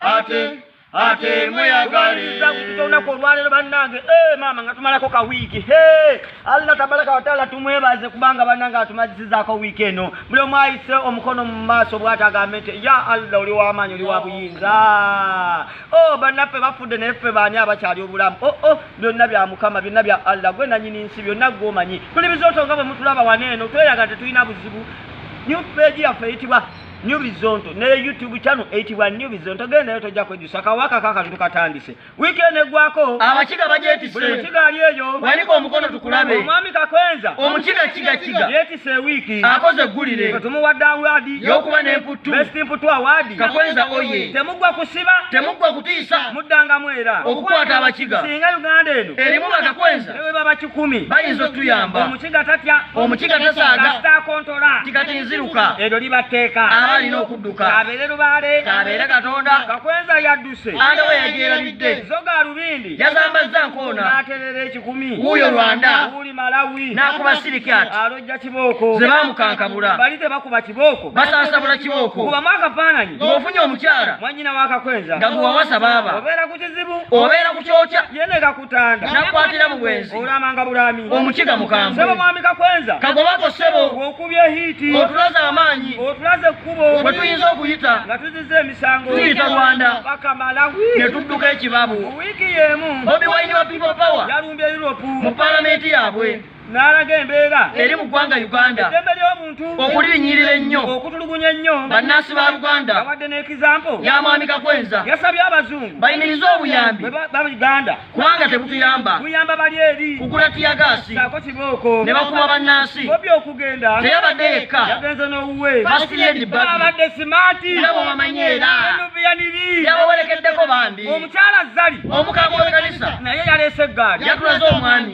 ate ate mweyagaliza kupita olunaku olwaleero bannange eh, maama nga tumalako ka wiiki alina tabalaka wataala tumwebaze kubanga bannange atumazisizaako wiiki eno buli omu ayise omukono mu maaso bwati agambe nti ya allah oli wamaanyi oli wa buyinza o oh, bannaffe bafudde naye ffe baani abakyali obulamu oo oh, oh, byonna bya mukama byonna bya allah gwe nanyini nsi byonna gwomanyi tuli bizooto nga bwe mutulaba wano eno tweyaga tetulina buzibu new page yaffe eyitibwa New Bizonto ne YouTube channel eyitibwa New Bizonto gendayo tojja kwejusa kawaka kakantu katandise weekend egwako abakiga bajetise buli mukiga ali eyo waliko omukono tukulabe omwami kakwenza omukiga kiga kiga yetise wiki akoze gulire tumuwadde awadi yokuba n'emputtu best mputtu awadi kakwenza oye temugwa kusiba temugwa kutiisa muddangamu era okukwata abakiga singa uganda eno erimu bakakwenza baba kikumi bayinza otuyamba omukiga tatya omukiga tasaaga kasita akontola tikati nziruka eryo liba tteeka aba alina okudduka kabeere lubaale kabeere katonda kakwenza yadduse anda we yagyerabidde zoga alubindi yazambazza nkoona n'aterera ekikumi wuuyo rwanda wuli malawi n'akuba sirikat alojja kibooko ze bamukankabula bali tebakuba kibooko basansabula kibooko kubamu akafaananyi ng'ofunye omukyala mwannyina w'akakwenza nga gwe wawasa baaba obeera ku kizibu obeera ku kyokya mutanda nakwatira mu bwenzi olamanga bulami omukiga mukambwe sebo mwami kakwenza kagobako sebo okubye hiti otulaze amaanyi otulaze ekkubo bwe tuyinza okuyita nga tuzize emisango tuyita rwanda paka malawi ne tudduka ekibabu wiiki y'emu bobi wine wa people power yalumbye europe mu palamenti yaabwe n'alaga embeera eri mu ggwanga uganda eddembe ly'omuntu okulinyirira ennyo okutulugunya ennyo bannansi ba uganda awadde n'ekizampo ya mwami kakwenza yasabye abazungu bayimirize obuyambi ba uganda kubanga tebutuyamba buyamba bali eri kugula tiyagaasi saako kibooko ne bakuba bannansi bobi okugenda teyabadde yekka yagenze n'owuwe abadde simaati nabo bamanyi era yabawerekeddeko bambi omukyala zali omukama w'ekkanisa naye yaleese eggaali yatulaze omwami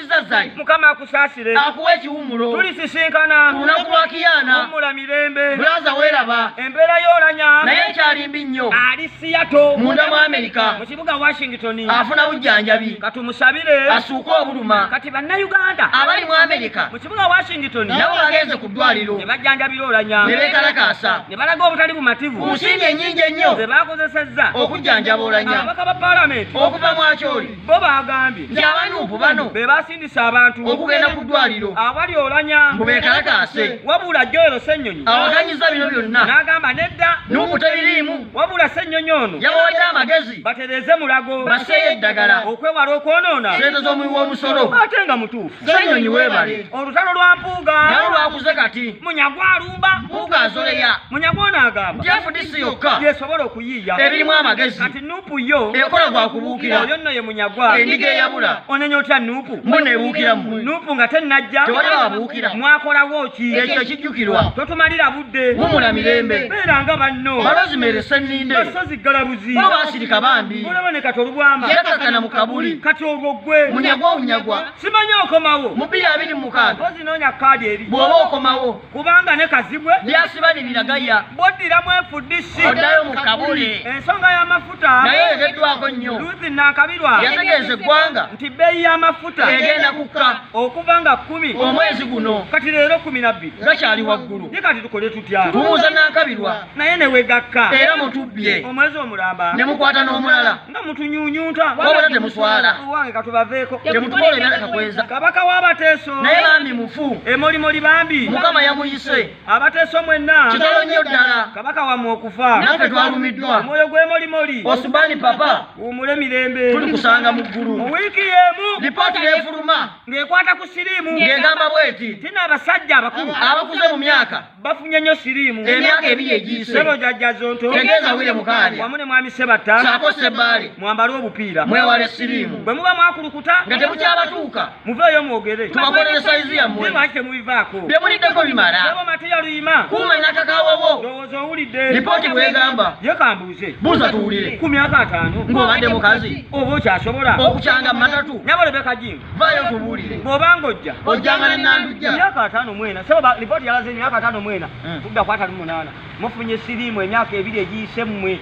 Zazai. Mukama akusasire. Akuwe kiwumulo. Tuli sisinkana. Tunaku lwa kiyana. Mumula mirembe. Blaza weraba. Empera yolanya. Naye kyali mbi nnyo. Ali siyato. Munda mu Amerika. Mu kibuga Washington. Afuna bujjanjabi. Katumusabire. Asuuka obuluma. Kati banna Uganda. Abali mu Amerika. Mu kibuga Washington. Nabo bagenze ku ddwaliro. Ne bajjanjabira olanya. Ne beekalakaasa. Ne balaga obutali bumativu. Ku nsimbi ennyingi ennyo. Ze baakozesezza. Okujjanjaba olanya. Ababaka ba palamenti. Okuva mu akyoli. bo baagambye nti abanuupu bano be basindisa abantu okugenda ku ddwaliro awali olanya mbu bekalakaase wabula joero ssennyonyi awaganyiza bino byonna n'agamba nedda nuupu tebiriimu wabula ssennyonyi ono yabawadde amagezi batereeze mulago baseeyo eddagala okwewala okwonoona sente z'omuwi w'omusolo ate nga mutuufu ssennyonyi weebale olutalo lwa mpuuga nawo lwakuze kati munyagwa alumba mpuuga azoleya munyagwa ono agamba jefudisi yokka yesobola okuyiiya ebirimu amagezi Nupu yo ekola gwa kubuukira oyo nno ye munyagwa endiga eyabula onenya otya nupu mbu nebuukira mu nupu nga tennajja tewali babuukira mwakolawo ki ekyo ekijjukirwa totumalira budde mumula mirembe beera nga banno balozimeresa enninde basozi ggalabuzi bo basirika bambi olaba ne kati olubwama yakakana mu kabuli kati olwo ggwe munyagwa omunyagwa simanyi okomawo mu bbiri abiri mu mukaaga ozinoonya kaadi eri bw'oba okomawo kubanga ne kazibwe byasiba ne biragaya boddira mu fdc oddayo mu kabuli ensonga y'amafuta naye ereddwako nnyo ruthi nankabirwa yategeeza eggwanga nti bbeeyi y'amafuta egenda kukka okuva nga kkumi omwezi guno kati leero kkumi na bbiri gakyali waggulu ye kati tukole tutya tumuuza nankabirwa naye ne wegakka era mutubbye omwezi omulamba ne mukwata n'omulala nga mutunyunyunta wabula temuswala owange katubaveeko temutukola ebirala kakweza kabaka w'abateeso naye bambi mufu emolimoli bambi mukama yamuyise abateeso mwenna kitalo nnyo ddala kabaka wamwe okufa naffe twalumiddwa omwoyo gw'emolimoli osubani papa wumule mirembe tuli kusanga mu ggulu mu wiiki y'emu lipooti n'efuluma ng'ekwata ku siriimu ng'egamba bweti tina abasajja abakulu abakuze mu myaka bafunye nnyo siriimu emyaka ebiri egiyise sebo jajja zonto tegeeza wire mukaali wamu ne mwami sebatta saako sebbaale mwambale obupiira mwewale siriimu bwe muba mwakulukuta nga temukyabatuuka muveeyo mwogere tubakolere sayizi yammwe lwaki temubivaako bye muliddeko bimala sebo mateya luyima kuuma nakakawowo ndowooza owulidde lipooti bwegamba ye kambuuze buuza tuwulire ku myaka ataano ng'obadde mukazi oba okyasobola okukyanga mu matatu nyabo lebeka jim vaayo tubuulire bw'oba ng'ojja ojjanga ne nandujja emyaka ataano mu ena sebo lipooti yalaze emyaka ataano mu ena hmm. tudda ku ataano munaana mufunye siriimu emyaka ebiri egiyise mmwe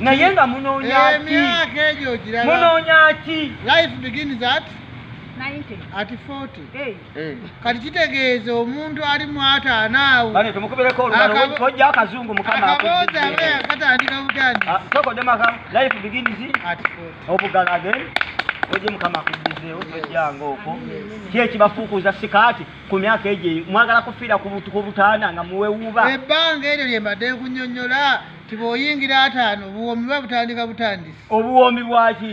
naye nga munoonya ki munoonya ki life begins at ati 40 eh. kati kitegeeza omuntu ali mu ataano awoakaboozi abeakatandika butandisi obugala again oje mukama akujizeewo tojjanga okwo ki ekibafuukuza sikaati ku myaka egyo mwagala kufiira ku butaana nga muwewuuba ebbanga eryo lye mbadde nkunyonyola ti bwoyingira ataano obuwoomi buba butandika butandisi obuwoomi bwaki